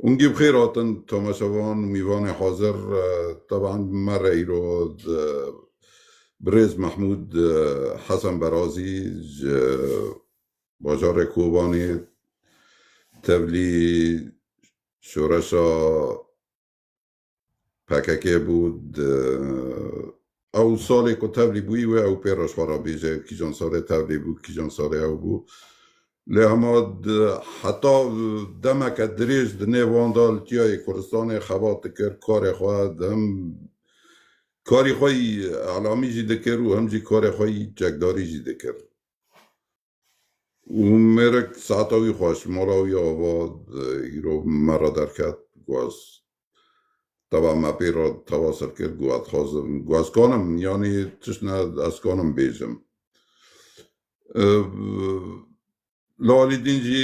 Ungî bi xêr hatin tomaşevan û mîvanê hazir. Teban me re îro birêz Mehmûd Hesen Berazî ji bajarê Kobanê tevlî şoreşa PKK bû di ew salê ku tevlî bûyî wê ew pê reşxwara bêje kîjan salê tevlî bû kîjan salê ew bû lê hema heta demeke dirêj di nêv wan da li Tiyayê Kurdistanê xebat dikir karê xwe him karî xwe î elamî jî dikir û him jî karê xwe î çekdarî jî dikir. Û mêrek saeta wî xwest, mala wî ava îro me re derket, guhaz. Teba me pê re teva ser kir, guha dixwazim, guha zikanim, yanî tişt ne ez zikanim bêjim. Li alî din jî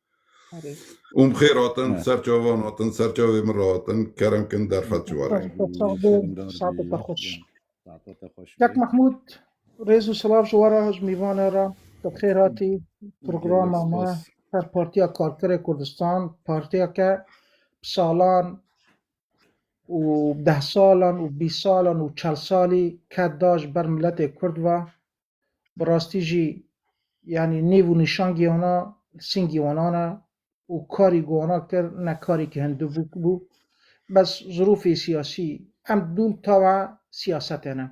Um xêr hatin, serçavan hatin, serçavê min re hatin, kerem kin derfet ji warê. Saetete xweş. Kak Mahmud, rêz û silav ji wara ji mîvana ra. Bi xêr hatî programa me her Partiya Karkerê Kurdistan, partiyeke bi salan û deh salan û bîst salan û çel salî ket da ji ber miletê Kurd ve. Bi rastî jî yanî nêv û nîşangî wana li singî wanan e û karî ku wana kir ne karîkî hindibûk bû. Bes zirûfê siyasî em dûm tawa siyasetê ne.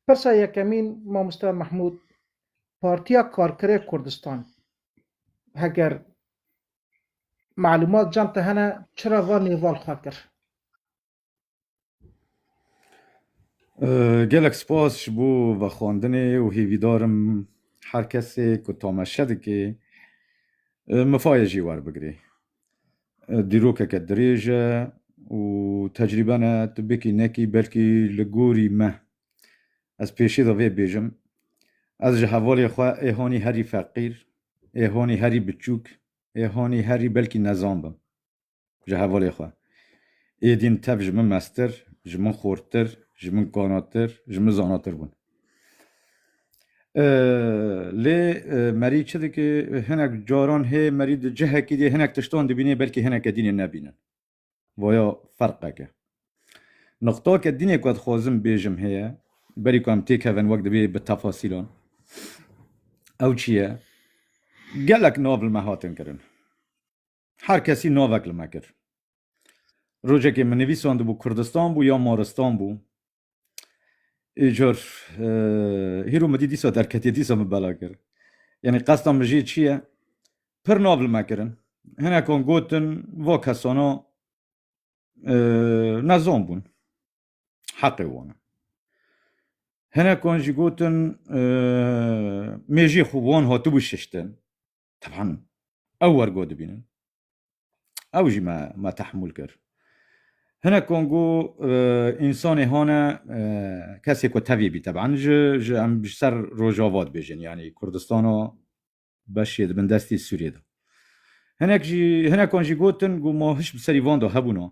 Pirsa yekemîn Mamoste Mehmûd, Partiya Karkerê Kurdistan heger malûmat cem te hene çira van nêval xwe kir? Gelek spas ji bo vexwendinê û hêvîdar im her kesê ku tameşe dike mifayê jî werbigire. Dîrokeke dirêj e û tecrîbe ne tu bikî nekî belkî li gorî me. Ez pêşî de vê bêjim ez ji hevalê xwe ê hanî herî feqîr, ê hanî herî biçûk, ê hanî herî belkî nezan bim. ji hevalê xwe. Êdîn tev ji min meztir, ji min xortir, ji min kanatir, ji min zanatir bûn. Lê Merî çi dike? Hinek caran hê Merî di cihekî dê hinek tiştan dibînê belkî hineke din ê nebînin. Vaya ferqeke. Nuqtake din ê ku ez dixwazim bêjim heye, berî ku em têkevin wek divê bi tefasîlan. Ew çi ye? Gelek navl me hatin kirin. Her kesî navek li me kir. Rojekê min nivîsandibû Kurdistan bû ya Moristan bû. Îcar hîro min dî dîsa derketiye dîsa min bela kir. Yanî qesta min jî çi ye? Pir nav li me kirin. Hinekan gotin va kesana nezan bûn. Heqê wan e. Hinekan jî gotin mêjiyê xwe wan hatibû şiştin. Teban ew wergo dibînin. Ew jî me me tehmûl kir. Hinek kongo însanê hane kesê ku tevî bî teban ji ji em ji ser rojava dibêjin yanî Kurdistana beşê di bin destê Sûriyê de. Hinek jî hinekan jî gotin ku ma hiş bi serî van de hebûna.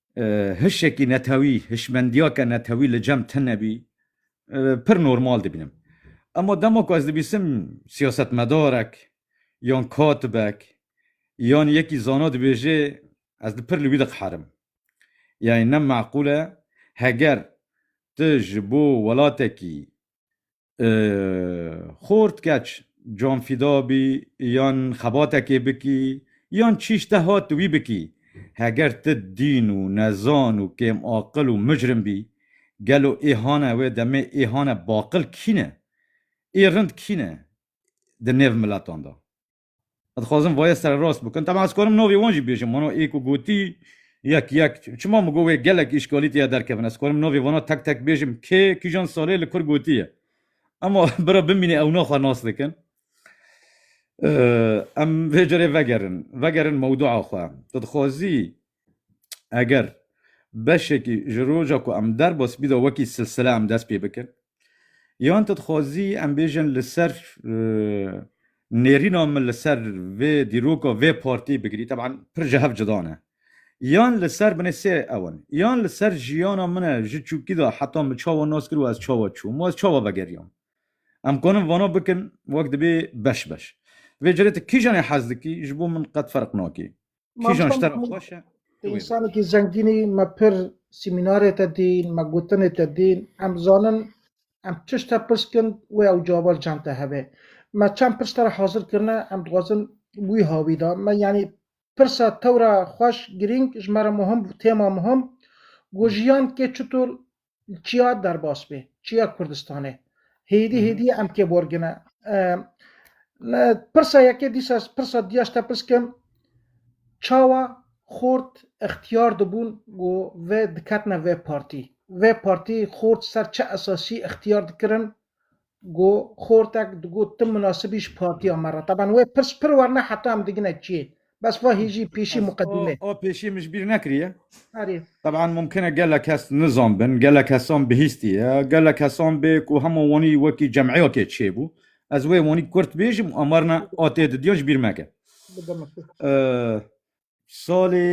hişekî netewî, hişmendiyake netewî li cem tune bî, pir normal dibînim. Ema dema ku ez dibîsim siyasetmedarek yan katibek yan yekî zana dibêje ez pir li wî diqeherim. Yanî ne meqûl e heger tu ji bo welatekî Xort keç, canfîda bî yan xebatekê bikî yan çîş te hat wî bikî, heger ti dîn û nezan û kêmaqil û micrim bî, gelo ê hane wê demê ê hane baqil kî ne? Ê rind kî ne di nêv miletan de? Ez dixwazim vayê sererast bikim. Taban ez karim navê wan jî bêjim. Wana ê ku gotî yek yek çima min got wê gelek îşkalî tê ya derkevin. Ez karim navê wana tek tek bêjim kê kîjan salê li kur gotî ye. Ema bira bimîne ewna xwe nas dikin. Em vê carê vegerin. Vegerin mewdua xwe. Tu dixwazî eger beşekî ji roja ku em der bas bîda wekî silsile em dest pê bikin yan tu dixwazî em bêjin li ser nêrîna min li ser vê dîroka vê partî bigirî teban pir ji hev cida ne yan li ser binê sê ew in yan li ser jiyana min e ji çûkî de heta min çawa nas kir û ez çawa çûm û ez çawa vegeriyam em kanin vana bikin wek dibê beş beş vê cilê tu kîjanê hez dikî ji bo min qet ferq nakê Kîjan ji te re xweş e? Tu wê bikî. Însanekî zengîn î, me pir sîmînarê te dîn, me gotinê te dîn, em zanin em çiş te pirs kin wê ew cava li cem te hebe. Me çend pirs te re hazir kirine, em dixwazin wî ha wî da. Me yanî pirsa tewra xweş, girîng, ji me re muhim bû, têma muhim, ku jiyan kê çitur Çiya derbas bê, çiya Kurdistanê. Hêdî hêdî em kê borgine. Pirsa yekê dîsa pirsa diya ji te pirs kim, çawa xort ixtiyar dibûn ku vê diketine vê partî. Vê partî xort ser çi esasî ixtiyar dikirin Go xortek digot tu munasib î ji partiya me re. Taban wê pirs pir werna heta em digine çiyê. Bes va hê jî pêşî muqedîme. O pêşî min ji bîr nekiriye. Erê. Taban mumkin e gelek kes nizan bin, gelek kesan bihîstiye, gelek kesan bê ku hema wanî wekî cemiyatê çêbû. Ez wê wanî kurt bêjim û amarna a tê didiyan ji bîr meke. Salê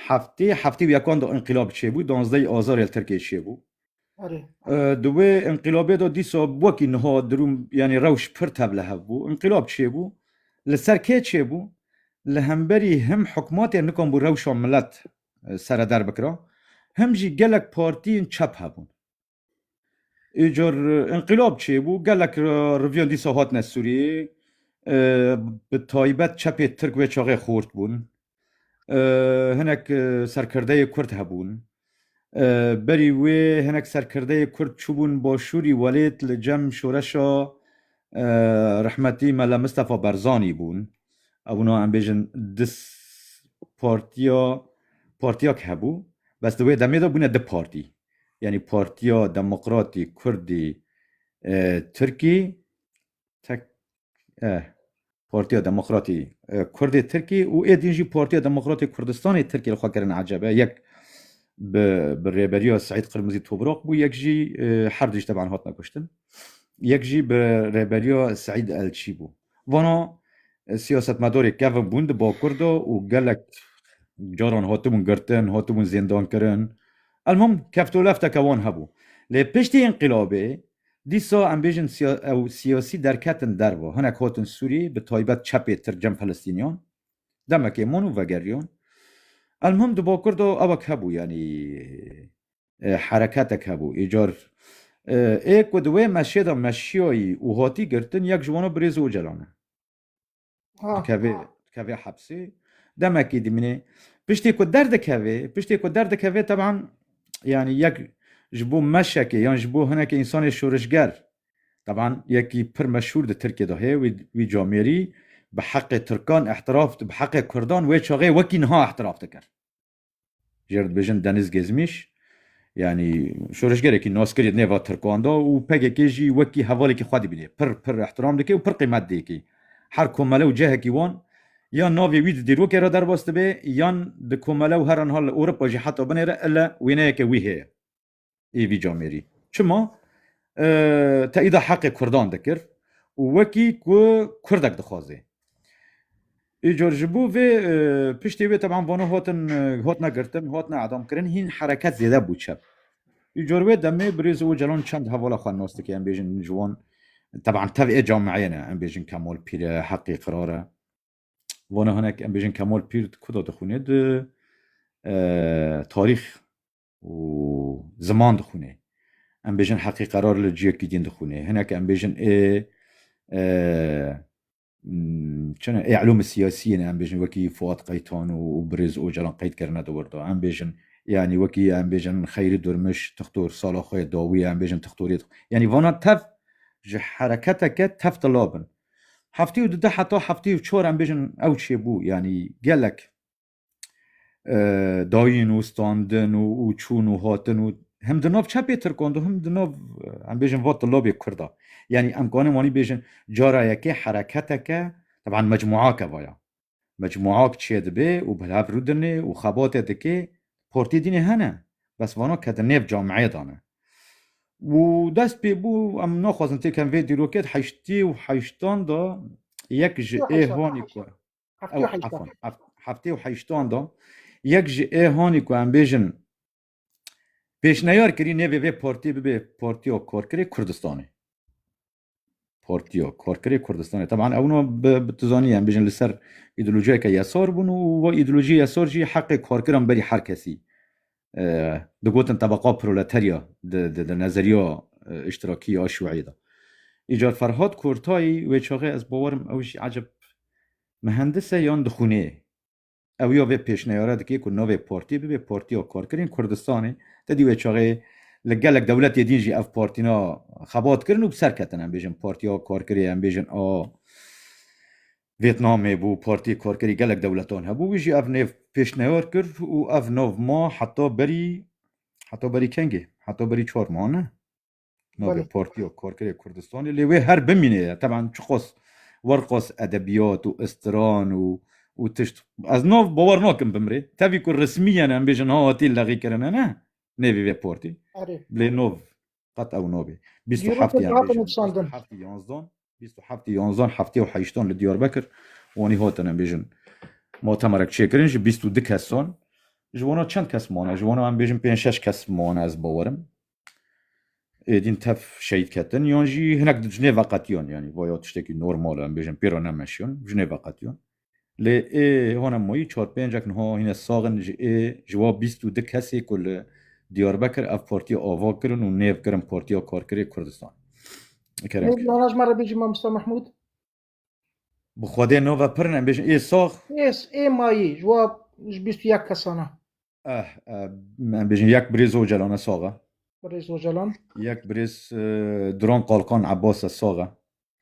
Heftê heftê û yekan de înqîlab çêbû, donzdehî azarê li Tirkiyê çêbû. Di wê înqîlabê de dîsa wekî niha dirûm yanî rewş pir tevlihev bû. Înqîlab çêbû, li ser kê çêbû? Li hemberî him hikûmatê nikan bû rewşa milet sereder bikira, him jî gelek partiyên çep hebûn. Îcar înqîlab çêbû gelek riviyan dîsa hatine Sûriyê bi taybet çepê Tirk wê çaxê xort bûn. Hinek serkirdeyê Kurd hebûn. Berî wê hinek serkirdeyê Kurd çûbûn başûrî welêt li cem şoreşa rehmetî Mele Mistefa Berzanî bûn. Ev wina em bêjin di partiya partiyak hebû. Bes di wê demê de bûne di partî. yanî Partiya Demokratî Kurdî Tirkî tek eh Partiya Demokratî Kurdê Tirkî û ê din jî Partiya Demokratê Kurdistanê Tirkî li xwe kirin ecebe yek bi bi rêberiya Seîd Qirmizî Tobrak bû yek jî her dijî teban hatine kuştin yek jî bi rêberiya Seîd Elçî bû. Vano siyasetmedorê kevin bûn di bakur de û gelek caran hatibûn girtin, hatibûn zêndankirin. Elmûm kevtolefteke wan hebû. Lê piştî înqîlabê dîsa em bêjin ew siyasî derketin derve. Hinek hatin Sûrî bi taybet çepê tirk cem Filistîniyan. Demekê man û vegeriyan. Elmûm di bakur de ewek hebû yanî. hereketek hebû. Îcar ê ku di wê meşê de meşiyayî û hatî girtin yek ji wan a Birêz Ocalan e. Dikevê dikevê hepsê demekî dimînê. Piştî ku derdikevê piştî ku derdikevê teban yanî yek ji bo meşekê yan ji bo hinekî însanê şorişger teban yekî pir meşhûr di Tirkiyê de heye wî wî camêrî bi heqê Tirkan îhtiraf bi heqê Kurdan wê çaxê wekî niha îhtiraf dikir. Jê re dibêjin Deniz Gezmîş yanî şoreşgerekî naskirî di nêva Tirkan de û PKK jî wekî hevalekî xwe dibîne. Pir pir îhtîram dike û pir qîmet diyekî. Her komele û cihekî wan ya navê wî di dîrokê re derbas dibe yan di komele û heraniha li Ewropa jî heta binê re ile wêneyeke wî heye. ê vî camêrî. Çima? Teyîda heqê kurdan dikir û wekî ku kurdek dixwazê. Îcar ji bo vê piştê wê teban vana hatin hatine girtin, hatine edamkirin hîn hereket zêde bû çep. Îcar wê demê birêz Ocalan çend hevala xwe nas dike em bêjin ji wan teban tev ê cameyê ne em bêjin Kemal Pîr e, heqê qirar e. Vana hinek em bêjin Kemal Pîr di ku de dixwîne di tarîx û ziman dixwînê. Em bêjin heqî qerar li ciyekî din dixwînê. Hinek em bêjin ê çine ê elûmê siyasiyê ne em bêjin wekî Fuat Qaytan û Birêz Ocalan qeyd kirine di wir de. Em bêjin yanî wekî em bêjin Xeyrî Durmuş tixtor sala xwe yê dawî em bêjin tixtoriyê dixwîn. Yanî vana tev ji hereketeke tev tila bin. Heftê û di deh heta heftê û çar em bêjin ew çêbû yanî gelek dayîn û standin û û çûn û hatin û hem di nav çepê tirkan de hem di nav em bêjin va tilabê kurd a yanî em kanin wanî bêjin cara yekê hereketeke teban mecmuake vaya mecmuak çê dibê û bi hev rûdinê û xebatê dikê portê dînê hene bes vana ke di nêv cameyê dane û dest pê bû em naxwazin têken vê dîrokê di heştî û heştan de yek ji ê hanî ku Heftê û heyştan. Afwan, heft, heftê û heyştan da yek ji ê hanî ku em bêjin pêşneyar kirî nêvê vê partiyê bibe Partiya Karkerê Kurdistanê. Partiya Karkerê Kurdistanê. Teban ew no bi bi tu zanî em bêjin li ser îdeolojiyeke yesar bûn û va îdeolojiyê yesar jî heqê karkiran berî her kesî. digotin tebeqa proleterya di nezeriya îştirakî ya Şiûîyê de. Îcar Ferhad Kortayî wê çaxê ez bawer im ew jî ecêb mihendis e yan dixwînê. Ew ya vê pêşneyara dike ku navê partiyê bibe Partiya Karkerên Kurdistanê. Te dî wê çaxê li gelek dewletê din jî ev partîna xebat kirin û bi ser ketin. Em bêjin Partiya Karkerê em bêjin a Vîetnamê bû, Partiyê Karkerî gelek dewletan hebû, wî jî ev nêv pêşneyar kir û ev nav ma heta berî heta berî kengê? Heta berî çar ma ne? Navê Partiya Karkerê Kurdistanê lê wê her bimînê ye. Teban çiqas werqas edebiyat û istiran û û tişt ez nav bawer nakim bimrê. Tevî ku resmî ye ne em bêjin ha hatî lexîkirine ne nêvê vê partî lê nav Qet ew nabê. Bîst û heft yan bêjin. Bîst û heftî yanzdan, bîst û heftî yanzdan, heftî û heştan li Diyarbekir wanî hatine bêjin. Mutemerek çêkirin ji bîst û du kesan. Ji wana çend kes mane? Ji wana em bêjin pênc şeş kes mane ez bawerim. Êdîn tef şehîd ketin yan jî hinek di jinê veqetiyan yanî vaya tiştekî normal e em bêjin pêra nemeşiyan jinê veqetiyan. Lê ê hone moyî çar pêncek niha hîne sax in ji ê ji wa bîst û du kesê ku li Diyarbekir ev partiya ava kirin û nêv kirin Partiya Karkerê Kurdistan. Kerem Lê kir. lala ji me re bêjî Mamosta Mehmûd. Bi Xwedê nava pir in em bêjin ê sax Ê ê mayî ji wa ji bîst û yek kesan e. Em bêjin yek birêz Ocalan e sax e. Birêz Ocalan. Yek birêz Duran Kalkan Abbas e sax e.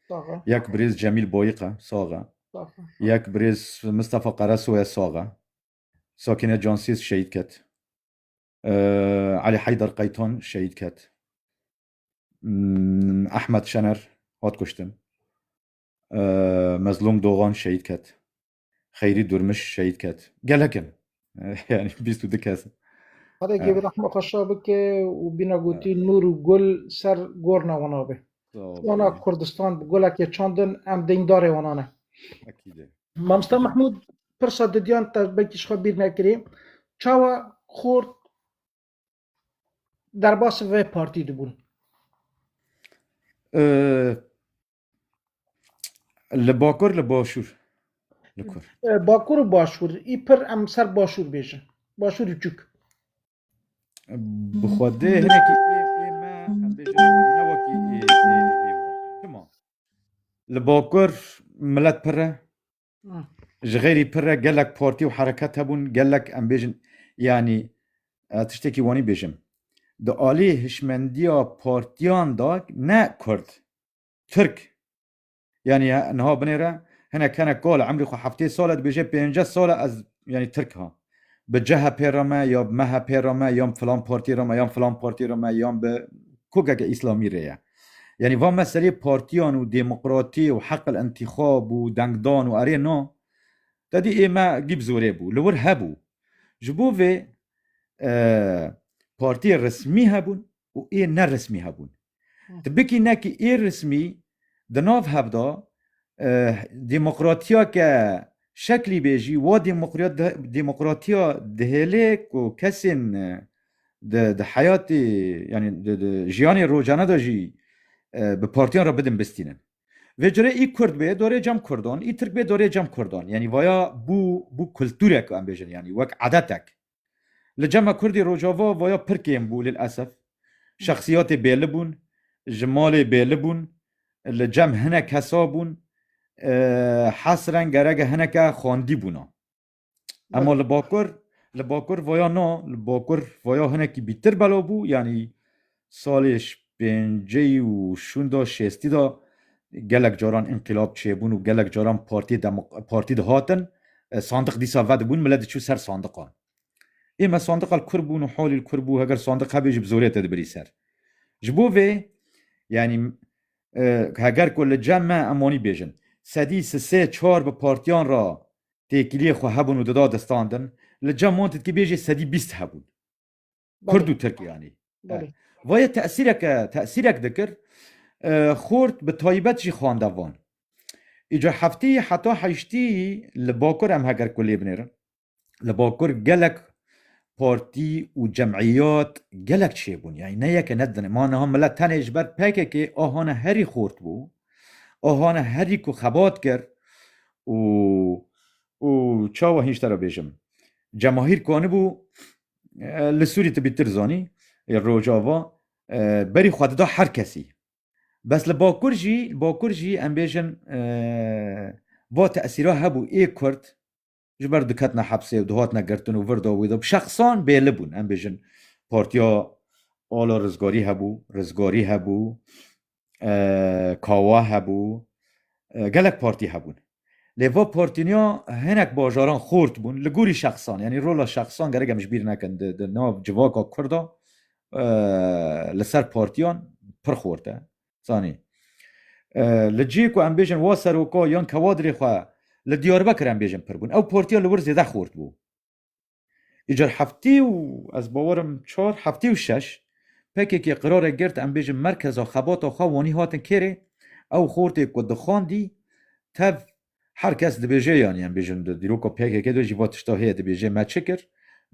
Sax e. Yek birêz Cemîl Boyîq e sax e. Sax e. Yek birêz Mistefa Qeresoy e sax e. Sakîne Cansêz şehîd ket. Elî Heydar Qeytan şehîd ket. Ehmed Şener hat kuştin. Mezlûm Dogan şehîd ket. Xeyrî Durmiş şehîd ket. Gelek in. Yani bîst û du kes. Xwedekê bi rehma xwe şa bike û bîna gotî nûr û gul ser gorna wan a be. Wana Kurdistan bi gulekê çandin em deyndare wana ne. Mamosta Mehmûd pirsa didiyan te belkî ji xwe bîr nekirî. Çawa Kurd derbasî vê partî dibûn? Li bakur li başûr. Li kur. Bakur û başûr. Î pir em ser başûr bêjin. Başûr û çûk. Bi xwedê hinekî ê ê me em bêjin ne wekî ê ê ê. Tima. Li bakur milet pir e. Ji xêrî pir re gelek partî û hereket hebûn, gelek em bêjin yanî tiştekî wanî bêjim. Di alî hişmendiya partiyan da ne kurd, tirk. Yanî niha binêre hinek hinek kal emrî xwe heftê sal e dibêje pênce sal e ez yanî tirk ham. Bi CHP'ê re me ya bi MHP'ê re me yan bi filan partî re me yan filan partî re me yan bi kokeke îslamî rê ye. Yanî va meselê partîyan û demokratî û heql întîxab û dengdan û erê na te dî ê me gî bi zorê bû. Li wir hebû. Ji bo vê partîyê resmî hebûn û ê ne resmî hebûn. Ti bikî nekî ê resmî di nav hev de demokratiya ke şeklî bê jî wa demokratiya dihêlê ku kesên di heyatê yanî di jiyanê rojane de jî bi partiyan re bidin bistînin. Vê curê î kurd bê dorê cem kurdan, î tirk bê dorê cem kurdan. Yanî vaya bû bû kulturek em bêjin yanî wek edetek. Li cema kurdî Rojava vaya pir kêm bû lil esef. Şexsiyatê bêli bûn, ji malê bêli bûn, li cem hinek hesa bûn, hesren gerege hineke xwendî bûna. Ema li bakur, li bakur vaya na, li bakur vaya hinekî bîtir belav bû, yanî Salê şpênceyî û şûnda şêstî de gelek caran înqîlab çêbûn û gelek caran Partiyê Demok Partî dihatin sandiq dîsa vedibûn milet diçû ser sandiqan. Ê me sandiqa li kur bûn û halî li kur bû heger sandiq hebê jî bi zorê te dibirî ser. Ji bo vê yanî heger ku li cem me em wanî bêjin sedî si sê çar bi partiyan re têkiliyê xwe hebûn û dida destandin li cem wan tu dikî bêjî sedî bîst hebûn. Kurd û Tirk yanî. Vayê tesîreke tesîrek dikir xort bi taybet jî xwendevan. Îca heftî heta heştî li Bakur em heger ku lê binêrin. Li Bakur gelek partî û cemîyat gelek çêbûn yayî ne yeke ne dine ma niha mile tenê ji ber PKK a hane herî xort bû. A hane herî ku xebat kir û û çawa hînç te re bêjim. Cemahîr kanibû Li Sûrî tu bîtir zanî ê Rojava berî xwe dida her kesî. Bes li Bakur jî li Bakur jî em bêjin va tesîra hebû ê Kurd ji ber diketina hepsê û dihatine girtin û vir da wî da şexsan bêli bûn em bêjin partiya Ala Rizgarî hebû, Rizgarî hebû, kawa hebû, gelek partî hebûn. Lê va partîniya hinek bajaran xort bûn li gorî şexsan yanî rola şexsan gerek em ji bîr nekin di di nav civaka Kurd a li ser partîyan pir xort e. Zanî li cihê ku em bêjin wa seroka yan kewadrê xwe li Diyarbekir em bêjin pir bûn. Ew partîya li wir zêde xort bû. Îcar heftê û ez bawer im çar heftê û şeş PKK qirarek girt em bêjin merkeza xebata xwe wanî hatin kêrê ew xortê ku dixwandî tev her kes dibêje yanî em bêjin di dîroka PKK de jî va tişta heye dibêje me çi kir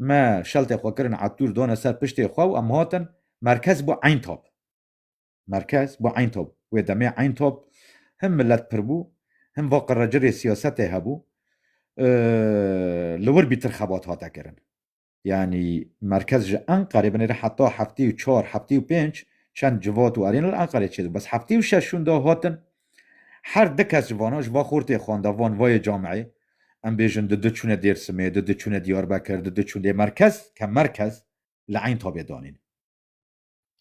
me şeltê xwe kirin etûr dane ser piştê xwe û em hatin merkez bû eyn tap. Merkez bû Eyntop. Wê demê Eyntop him milet pir bû, him va qirrecirê siyasetê hebû. Li wir bîtir xebat hate kirin. Yanî merkez ji Enqerê binêre heta heftê û çar, heftê û pênc çend civat û erêna li Enqerê çêdibû. Bes heftê û şeş hûn da hatin. Her di kes ji vanan ji va xortê xwanda van vayê cameyê. Em bêjin di di çûne Dêrsimê, di di çûne Diyarbekir, di di çûn lê merkez ke merkez li Eyntopê danîn.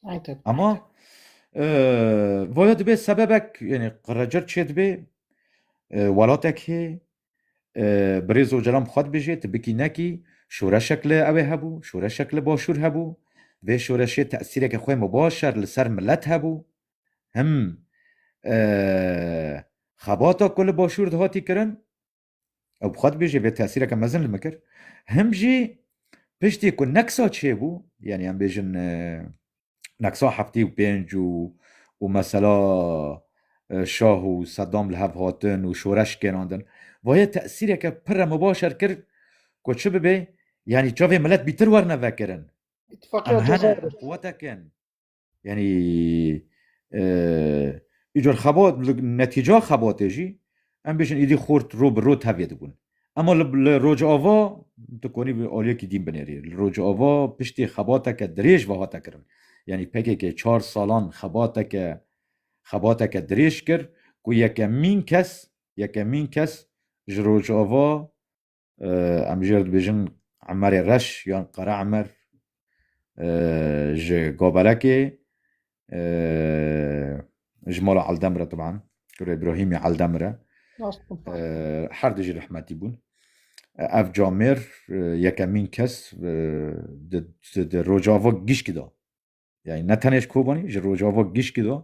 Aynen. Ama e, voya dibe sebebek yani qıracır çê dibe e, welatek hê e, birêz ocalan xwed bijê tibikî nekî şoreşek li ew ê hebû şoreşek li başûr hebû vê şoreşê tesîreke xwe mubaşer li ser millet hebû him e, xebata ku li başûr dihatî kirin Ew bi xwe dibêje vê tesîreke mezin li min kir. Him jî piştî ku neksa çêbû, yanî em bêjin e, neksa heftî û pênc û û mesela e, şah û Sedam li hev hatin û şoreş kênandin. Vayê tesîreke pir re mibaşer kir ku çi bibê, yanî çavê milet bîtir werne vekirin. Em İttifakiyê hene, Cezayir'e. em quwetekin. Yanî îcar xebat netîca xebatê jî em bêjin êdî xort ro bi ro tevlê dibûn. Ema li rojava tu konî aliyekî dîn binêrî. Li rojava piştî xebateke dirêj ve hate kirin. Yanî pkk çar salan xebateke xebateke dirêj kir ku yekemîn kes yekemîn kes ji rojava Em jê re dibêjin Emerê Reş yan Qere Emer ji Gobelekê ji mala Eldemir e teban kurê Îbrahîmê Eldemir e her du jî rehmetî bûn. Ev camêr yekemîn kes di rojava gişkî de Yani ne tenê ji Kobanî, ji Rojava gişkî de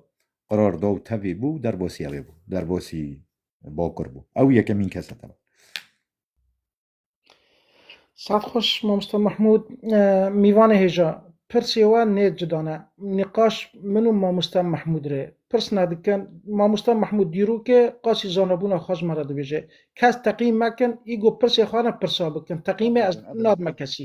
qirar da û tevî bû û derbasî ew ê bû. Derbasî Bakur bû. Ew yekemîn kes e tevî. Saet xweş mamosta Mehmûd, mîvanê hêja. Pirsê we nê cuda ne. Nîqaş min û mamosta Mehmûd rê pirsna dikin. Mamosta Mehmûd dîrokê qasî zanebûna xwe ji me re dibêje. Kes teqîm mekin, îgo pirsê xwe re pirsa bikin. Teqîmê ez nadim kesî.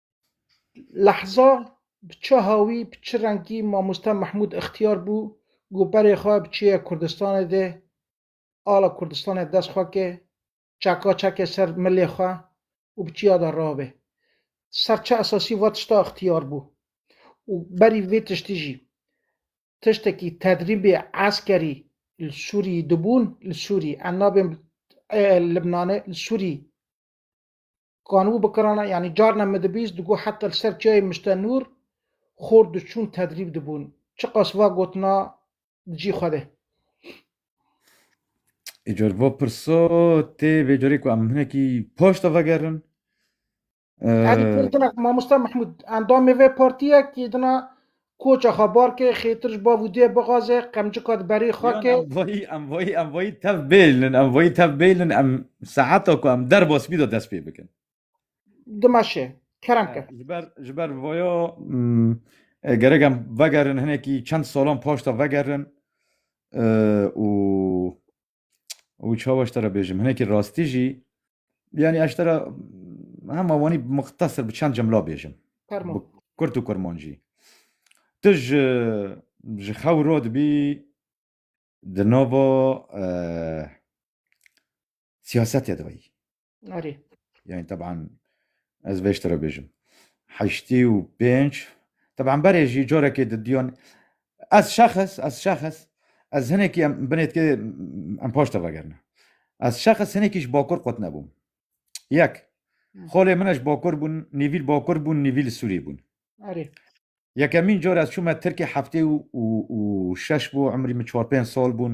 Lehza bi çi hawî, bi çi rengî mamoste Mehmûd ixtiyar bû ku berê xwe bi çêya Kurdistanê de, ala Kurdistanê dest xwe ke, çeka çeke ser milê xwe û bi çiya de rabe. Ser çi esasî va tişta ixtiyar bû û berî vê tiştî jî tiştekî tedrîbê eskerî li Sûrî dibûn, li Sûrî, em nabên Libnanê, li Sûrî Kanû bi kirana yanî carna min dibîst digot heta li ser çiyayê Miştenûr xort diçûn tedrîb dibûn. Çiqas va gotina di cî xwe de. Îcar va pirsa tê vê carê ku em hinekî paşta vegerin. Erî pir din e. Mamosta Mehmûd endamê vê partiyek yê din e Koça xwe bar ke, xêtir ji bav û dê bixaze, qemcika di berê xwe Yan ke. em vayî em vayî em vayî tev bêlin em vayî tev bêlin em saeta ku em derba spî de dest pê bikin. Dimeşe. Kerem ke. Ji ber ji ber vaya gerek em vegerin hinekî çend salan paşta vegerin û û çawa ji te re bêjim hinekî rastî jî yanî ez ji te re hema wanî muxtesir bi çend cemla bêjim Kurd û Kurman jî tu ji ji xew ro dibî di nava siyasetê de weyî Arê. Yani taban ez vê ji te re bêjim. Heştî û pênc taban berê jî corekê di diyon ez şexs ez şexs ez hinekî em binêtkê em paş te vegerine. Ez şexs hinekî ji bakur qut nebûm. Yek. Xolê min ji bakur bûn, nîvîl bakur bûn, nîvîl Sûrî bûn. Erê. Yekemîn car ez çûme Tirkê heftê û û şeş bû emrî min çar pênc sal bûn.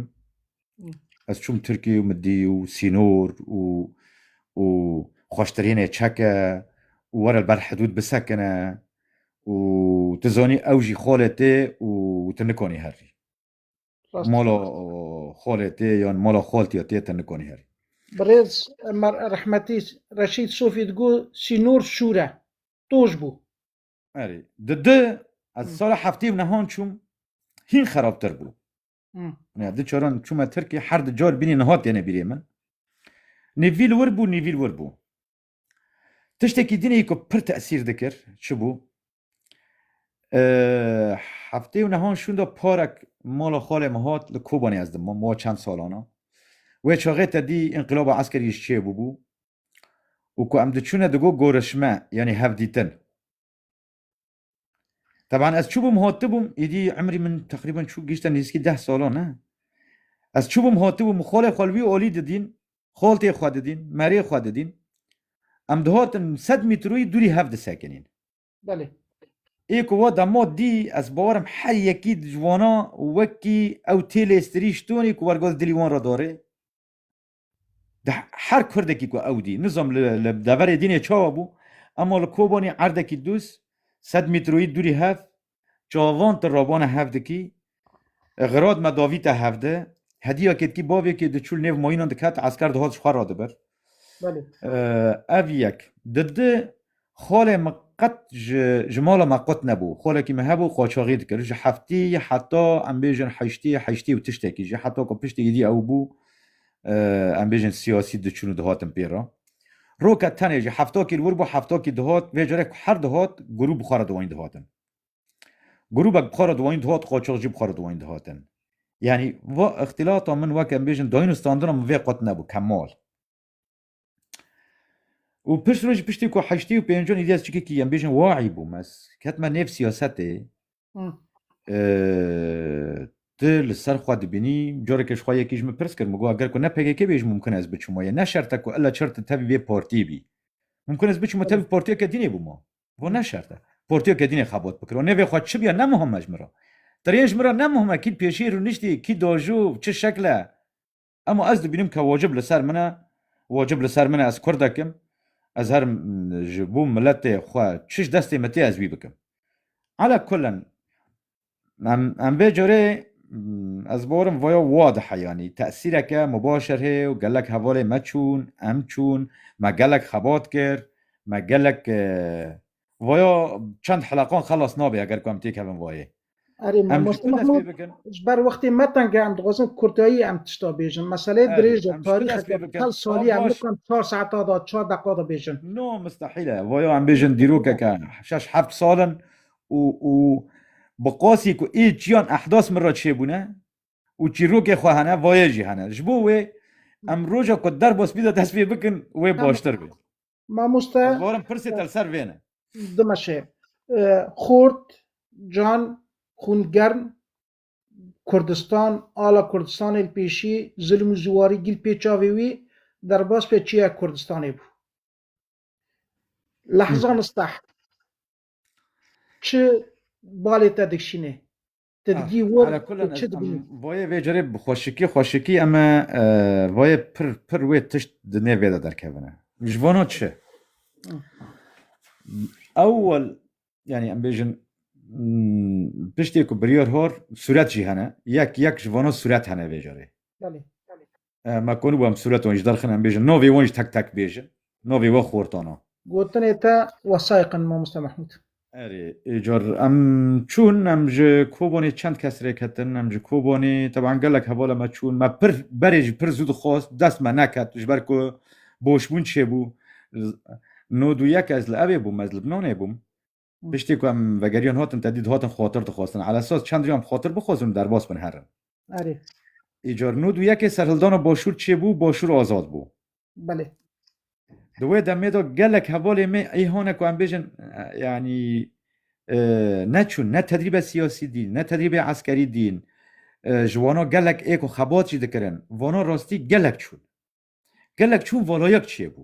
Ez çûm Tirkê û min dî û sînor û û xweştirînê çeke û were li ber hidûd bisekine û tu zanî ew jî xolê tê û tu nikanî herî. Rast. Mala xolê tê yan mala xoltiya tê tu nikanî herî. Birêz Emar Rehmetî Reşîd Sofî digo sînor şûre. toj bû. Erê, di di ez sala heftê û nehan çûm hîn xerabtir bû. Ya di caran çûme Tirkê her di car bînî niha têne bîrê min. Nêvî li wir bû, nêvî li wir bû. Tiştekî dînê ku pir tesîr dikir çi bû? Heftê û nehan şûn da parek mala xalê min hat li Kobanê ez dimam wa çend salana. Wê çaxê te dî înqilaba eskerî ji çê bûbû. û ku em diçûne di go gorişme yanî hevdîtin. Teban ez çûbûm hotibûm îdî emrî min teqrîben çû gihîşte nîzkî deh salo ne. Ez çûbûm hotibûm xolê xwe li wî olî didîn, xoltê xwe didîn, merê xwe didîn. Em dihotin sed mîtroyî dûrî hev disekinîn. Belê. Ê ku wa dema dî ez bawer im her yekî ji wana wekî ew tê lêstirî ji tonî ku wergoz dilî wan re dore. Di her kurdekî ku ew dî, nizom li deverê dînê çawa bû, ema li Kobanî erdekî dûz, sed mîtroyî dûrî hev, çavan ti ravana hev dikî, xirad me davî te hev di, hediya ketkî bavê kê diçû li nêv mayînan diket, esker dihat ji xwe re dibir. Ev yek. Di di Xolê min qet ji ji mala me qut nebû. Xolekî min hebû qaçaxî dikir. Ji heftî heta em bêjin heştî heştî û tiştekî jî heta ku piştî êdî ew bû em bêjin siyasî diçûn û dihatin pê re. Roke tenê jî heftakî li wir bû heftakî dihat vê carê ku her dihat grûp bi xwe re diwanîn dihatin. Grûbek bi xwe re diwanîn dihat qaçax jî bi xwe re diwanîn dihatin. Yanî va îxtîlata min weke em bêjin dayîn û standina min vê qut nebû kemal. û pişt roj piştî ku heştî û pêncon Îlyas Çikikî em bêjin waî bû mes ketme nêv siyasetê tu li ser xwe dibînî carekê ji xwe yekî ji min pirs kir min got ger ku ne PKK bê ji mumkin ez biçim wayê ne şert e ku illa çar tu tevî vê partî bî mumkin ez biçim tevî partiyeke dînê bûma got ne şert e partiyeke dînê xebat bikir û nêvê xwe çi biya ne muhim e ji min re deriyên ji min re ne muhim e kî pêşî rûniştî kî dajo çi şekle Ema ez dibînim ke wacib li ser min e, wacib li ser min e ez Kurdek im, ez her ji bo miletê xwe çi ji destê min tê ez wî bikim. Ala kulen em em vê carê ez barim vaya wa dihe yanî tesîreke mibaşir hê û gelek hevalê me çûn, em çûn, me gelek xebat kir, me gelek Vaya çend heleqan xelas nabe eger ku em têkevin vayê. Erê Em mamoste tu dest pê Mahmud bikin. ji ber wextê me tenge em dixwazin kurdayî em tişta bêjin. Meseleyê Erê, dirêj e, em ji tu dest tarîxeke pê bikin. çel salî Wan ye. Em baş. nikan çar saeta da, çar deqa da bêjin. No mistehîl e. Vaya em bêjin dîrokeke şeş heft sal in û û bi qasî ku ê çiyan ehdas min re çêbûne û çîrokê xwe hene vayê jî hene. Ji bo wê em roja ku derbas bî de dest pê bikin wê Tamam. baştir be. Mamoste Ez bawerim pirsê te li ser vê ne. dimeşe. Xort, can, xûn germ, Kurdistan, ala Kurdistanê li pêşî, zilm û ziwarî gîl pê çavê wî, derbas be çiyek Kurdistanê bû. Lehzan steh. Çi balê te dikşînê? Ti Ah, digî wir ala kulan tu çi ez em dibînî? voyê vê carê bi xweşikî xweşikî em e e, voyê pir pir wê tişt di nê vê de derkevine. Ji vana çi? Ewwel yanî em bêjin mm, tiştê ku biryar hor sûret jî hene. Yek yek ji vana sûret hene vê carê. Belê. Me konî bû em sûret wan jî derxin em bêjin navê wan jî tek tek bêjin. Navê we Xortan a. Gotinê te wesayiq in Mamoste Mehmûd. Erê, êcar em çûn em ji Kobanê çend kes rê ketin, em ji Kobanê teban gelek hevala me çûn. Me pir berê jî pir zû dixwest, dest me neket ji ber ku boşbûn çêbû. Nod û yek ez li evê bûm, ez Libnanê bûm. Piştî ku em vegeriyan hatin te dî dihatin xwatir dixwestin. Ala esas çend rî em xwatir bixwestin û derbas bin herin. Erê. Îcar nû du yekê serhildana başûr çêbû û başûr azad bû. Belê. Di wê demê de gelek hevalê me ê hane ku em bêjin yanî neçûn ne tedrîbe siyasî dîn ne tedrîbê eskerî dîn ji wana gelek ê ku xebat jî dikirin vana rastî gelek çûn. Gelek çûn valayek çêbû.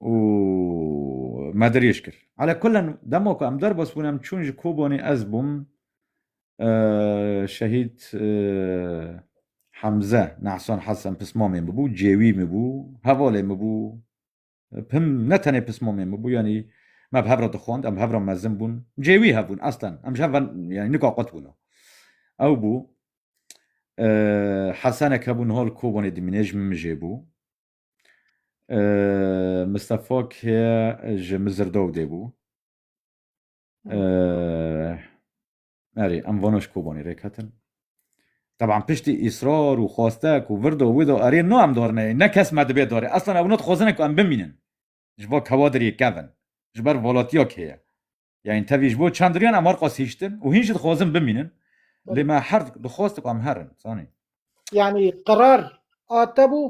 û me dirêj kir. Ala kulen dema ku em derbas bûn em çûn ji Kobanê ez bûm şehîd Hemze Nehsan Hesen pismamê min bû, cêwî min bû, hevalê min bû, pim ne tenê pismamê min bû yanî me bi hev re dixwand, em bi hev re mezin bûn, cêwî hev bûn aslan em ji hev ve yanî nika qut bûn. Ew bû Hesenek hebû niha li Kobanê dimîne ji min mijê bû. Mistefa ke ji Mizirdawdê bû. Erê em vana ji Kobanê rêk hatin. Teban piştî îsrar û xweste ku virdo wido erê no em dar neyê ne kes me dibê darê. Eslan ewna dixwazine ku em bimînin. Ji bo kewadirê kevin. Ji ber volatiya kê ye. Yanî tevî ji bo çandiriyan em arqas hiştin û hîn jî dixwazin bimînin. Lê me her dixwaz dibe em herin. Zanî. Yanî qerar a te bû?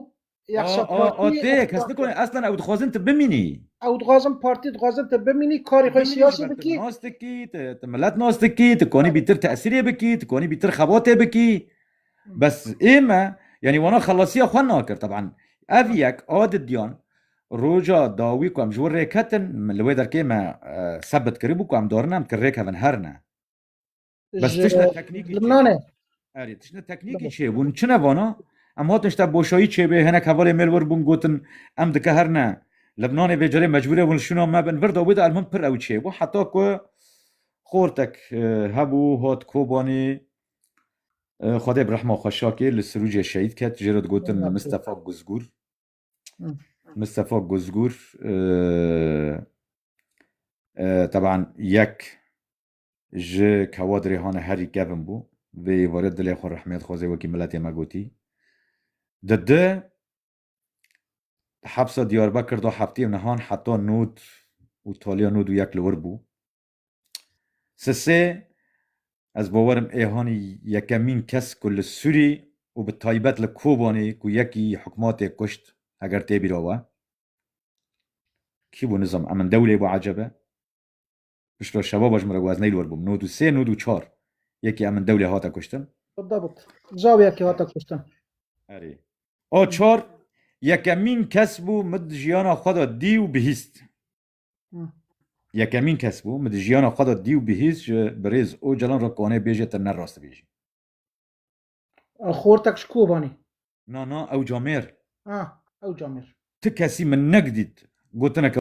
Yexşa partî. A te kes nikone eslan ew dixwazin tu bimînî. Ew dixwazin partî dixwazin tu bimînî karê xwe siyasî bikî. Tu nas dikî, tu milet nas dikî, tu kanî bîtir tesîrê bikî, tu kanî bîtir xebatê bikî. Bes ême yanî wana xelasiya xwe nakir. Teban ev yek a didiyan Roja dawî ku em ji wir rêketin li wê derkê me sebit kiribû ku em dorine em ki rêkevin her ne. Bes tiştê teknîkî Lubnanê. Erê tiştê teknîkî çêbûn. Çi ne vana? Em hatin işte boşayî çêbê hinek hevalê mêl wir bûn gotin em dike her ne. Lubnanê vê carê mecbûrê hûn li şûna me bin. Vir da wê de elmim pir ew çêbû heta ku xortek hebû hat Kobanî Xwedê bi rehma xwe şakê li Sirûcê şehîd ket jê re digotin Mistefa Guzgûr. Mistefa Guzgûr teban yek ji kewadirê hane herî kevin bû. Vê êvarê dilê xwe rehmêt xwezê wekî miletê me gotî. Di di hepsa Diyarbekir da heftê û nihan heta nod û taliya nod û yek li wir bû. Sisê, Ez bi bawer im Êhanî yekemîn kes ku li Sûrî û bi taybet li Kobanî ku yekî hikmatê kuşt heger tê bîra we. Kî bû nizam Emin Dewlê bû ecebe. Piştre şevaba ji min re got ez neyli wer bûm. Nod û sê nod û çar yekî Emin Dewlê hate kuştin. Bidabit. Caw yekî hate kuştin. Erê. A çar yekemîn kes bû min di jiyana xwe de dî û bihîst. Yekemîn kes bû min di jiyana xwe de dî û bihîst ji birêz Ocalan re kwanê bêje te ne rast dibêjî. Xortek ji Kobanê. Na na ew camêr. Ah ew camêr. Ti kesî min negdît gotineke